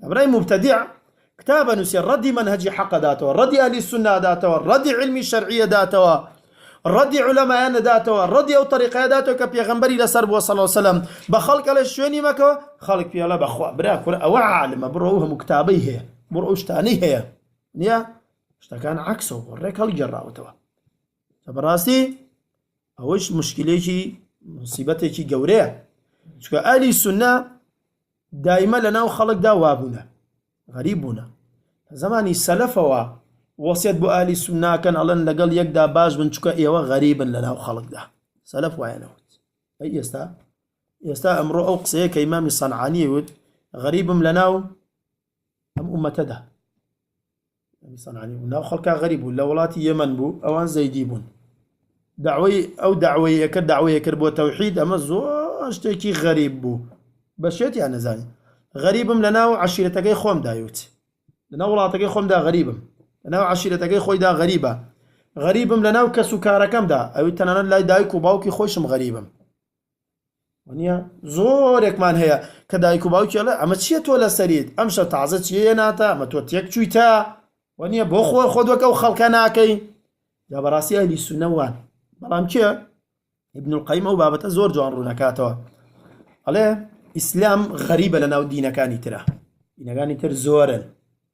کابرای موبتەدیع کتاب ئەنووسێ ڕەدی مەنهەجی حەق ئەداتەوە، ڕەدی ئەهلی سوننە ئەداتەوە، ڕەدی عیلمی شەرعی ئەداتەوە، ڕەدی عولەمایان ئەداتەوە، ڕەدی ئەو تەریقەیە ئەداتەوە کە پێغەمبەری لەسەر بووە صلی وسلم، بە خەڵک ئەڵێ شوێنی مەکەوە، خەڵک پێی ئەڵێ بەخوا برا کورە ئەوە عالمە بڕۆ ئەو هەموو کتابەی هەیە، بڕۆ ئەو شتانەی هەیە. نییە؟ شتەکان عەکسەوە بۆ ڕێک هەڵگێڕاوەتەوە. کە بەڕاستی ئەوەش مشکلێکی مصیبەتێکی گەورەیە. چونکە ئەهلی سوننە دایمە لە ناو خەڵکدا وا بوونە غەریب بوونە لە زەمانی سەلەفەوە وەسیەت بۆ ئەهلی سونناکەن ئەڵێن لەگەڵ یەکدا باش بن چکە ئێوە غەریبن لە ناو خەڵکدا سەلەف وایە نەوت ئەی ئێستا ئێستا ئەمڕۆ ئەو قسەیە کە ئیمامی سەنعانی وت غەریبم لە ناو ئەم ئومەتەدا سەنعانی بوو ناو خەڵکا غەریب بوو لە وڵاتی یەمەن بوو ئەوان زەیدی بوون داوای ئەو داوەیەکە داوەیەکرد بۆ تەوحید ئەمە زۆر شتێکی غەریب بوو بە شێتیان نەزانی غەریبم لە ناو عشیرەتەکەی خۆم دایوت لە ناو وڵاتەکەی خۆمدا غەریبم لە ناو عشیرەتەکەی خۆیدا غەریبە غەریبم لە ناو کەس و کارەکەمدا ئەوی تەنانەت لای دایک و باوکی خۆشم غەریبم وەنیە زۆرێکمان هەیە کە دایک و باوکی ئەڵێ ئەمە چییە تۆ لەسەریت ئەم شە تازە چیە هێناتە ئەمە تۆ تێک چوویتە وەنیە بۆ خۆ خۆ دۆکە و خەڵکە ناکەی جا بەڕاستی ئەهلی سونە وان بەڵام کێ ابن القیم ئەو بابەتە زۆر جوان ڕوونەکاتەوە ئەڵێ ئیسلام غەریبە لە ناو دینەکانی ترە دینەکانی تر زۆرن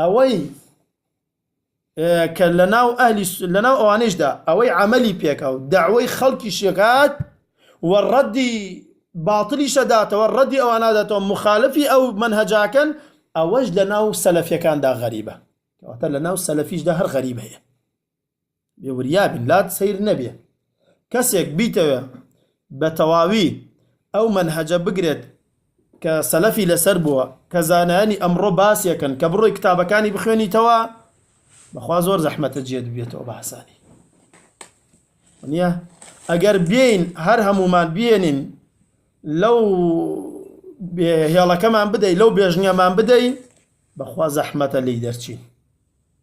ئەوەی کە لەناو ئەهلی لەناو ئەوانیشدا ئەوەی عەمەلی پێکا و دەعوەی خەڵکیشی کات و ڕەدی باتڵیشە داتەوە ڕەدی ئەوان ناداتەوە مخالفی ئەو منهەجاکەن ئەوەش لەناو سەلەفیەکاندا غەریبە کەواتە لەناو سەلەفیشدا هەر غەریب هەیە بێ وریابین لات سەیر نەبێ کەسێک بیتەوێ بە تەواوی ئەو مەنهەجە بگرێت کە سەلەفی لەسەر بووە کە زانایانی ئەمڕۆ باسیەکەن کە بڕۆی کتابەکانی بخوێنیتەوە بەخوا زۆر زەحمەتە جێت بێتەوە بە حسانی نیە ئەگەر بێین هەر هەمومان بێنین لەو هێڵەکەمان بدەی لەو بێژنگەمان بدەی بەخوا زەحمەتە لی دەرچین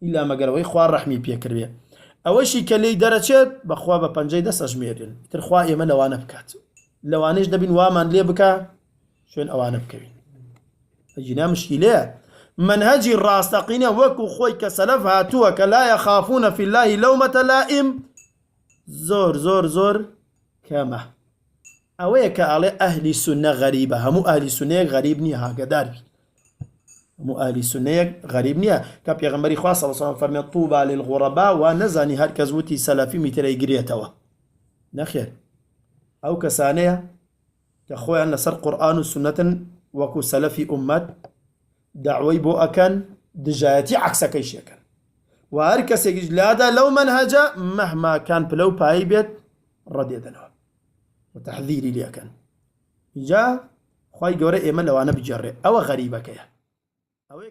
ئیلا مەگەر ئەوەی خوا ڕەحمی پێ کردبێ ئەوەشی کە لێی دەرەچێت بەخوا بە پەنجەی دەست ئەژمێرێن ئیتر خوا ئێمە لەوانە بکات لەوانەیش دەبین وامان لێ بکا شوێن ئەوانە بکەوین ئەجینا مشکیلەیە منهجی ڕاستەقینە وەکو خۆی کە سەلەف هاتووە کە لایە خافونە فی اللهی لەومەتە لائیم زۆر زۆر زۆر کەمە ئەوەیە کە ئەڵێ ئەهلی سونە غەریبە هەموو ئەهلی سونەیەک غەریب نییە هاگەدار بیت هەموو ئەهلی سونەیەک غەریب نییە کە پێغمبەری خوا صلی الله فەرمێ طوبا للغربا وا نەزانی هەر کەس وتی سەلەفی میترەی گرێتەوە نەخێر ئەو کەسانەیە کە خۆیان لەسەر قورآن و سنەتن وەکو سەلەفی ئومەت داوای بۆ ئەکەن دژایەتی عکسەکەی شێکەن و هەر کەسێکیش لادا لەو منهجە مهما کان پلە و پایی بێت ڕەدێدەنەوە و تەحذیری لێکەن جا خوای گەورە ئێمە لەوانە بگێڕێ ئەوە غەریبەکەیە ئەوەی